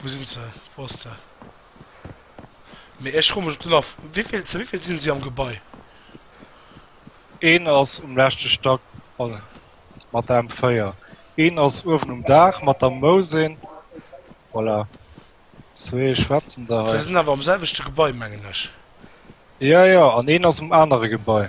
Wou sinn se? Wou ass se? Mee ech froe mech op den Aff, wéivill, zu wéivill sinn si am Gebai? Een ass um leschte Stack mat der M4, een ass uewen um Daach mat der Mousin, voilà, zwee schwätzen da hei. Se sinn awer am selwechte Gebai, mengen ech. Jo, jo, an een ass um anere Gebai.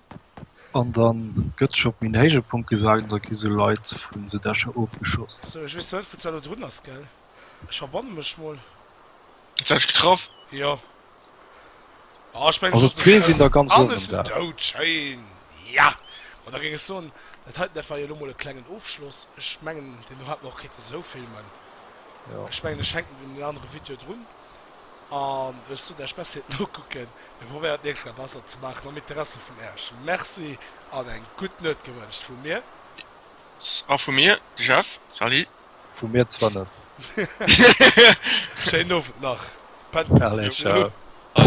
An dann gëtt scho op méi en héije Punkt gesat, an da gi sou Leit vun sou Dächer ofgeschoss. Sou, ech weess net wou d'Salo drun ass, gell? Ech verbanne mech mol. Huet se eis getraff? Jo. Oh, ech mengen Also zwee sinn der ganz owen um Daach. Dout, schéin! Ja! Ma da géing ech soen, dat heiten, dat war jo elo mol e klengen Ofschloss. Ech mengen, deen do hat mer och kéinte sou filmen. Jo. Ech mengen, ech hänken den anere Video drun. An ech soen Äerch Merci et nokucken. Mir probéieren et nächst Mal besser ze maachen am Interesse vun Äerch. Merci an eng gutt Nuet gewënscht vu mir. A vu mir, de Jeff, Salut. Vu mir zwar net. Schéinen Owend nach. Pennt gutt. Allez, ciao.